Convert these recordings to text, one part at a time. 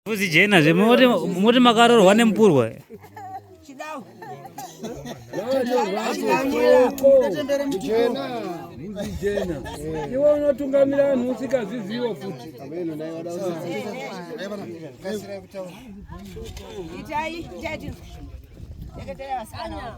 Fuzi jena zve moti moti makarorwa nemupurwa. Chidau. Iwe unotungamira vanhu usikazvizivo futi. Itai, itai. Ndakatera vasikana.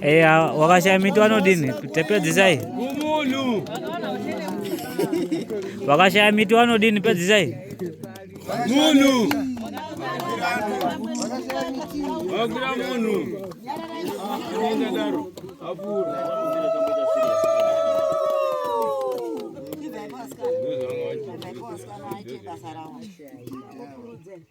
Eh, wakashaya miti wanodini pedzisai kumunhu wakashaya miti wanodini pedzisai munhu wakura munhu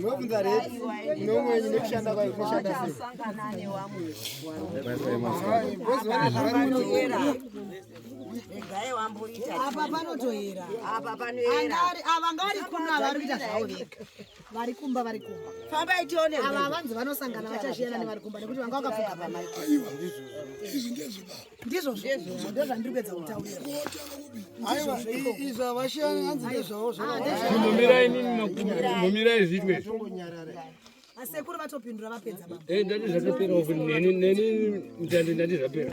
Munobvunza here nomwenyu nekushanda kwayo kunoshanda sei? apa panotoera apa panoera ava ngari kuno ava vari kuita zvavo vega vari kumba vari kumba fambai tione ava vanzi vanosangana vachazviyana nevari kumba nekuti vanga vakapfuga pamai izvi ndezvibaa ndizvo ndozvandiri kuedza kutaura aiwa izvo havashani hanzi ndezvavo zvomumira inini mumira izvitwe asekuru vatopindura vapedza eh, ndati zvatopera neni mtandi ndati zvapera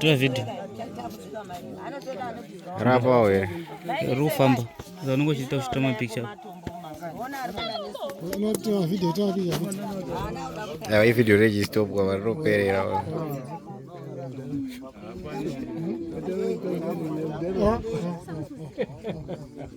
Tora video. Rapa wewe. Rufamba. Zanongo chita kushita mapicha. Unotoa video toa video. Na hii video reji stop kwa waro perera. Oh.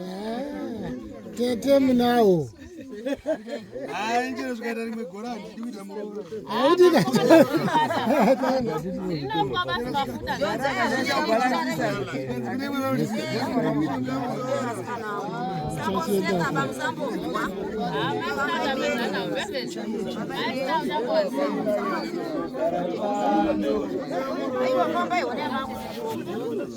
Ah, tete munawo Thank you.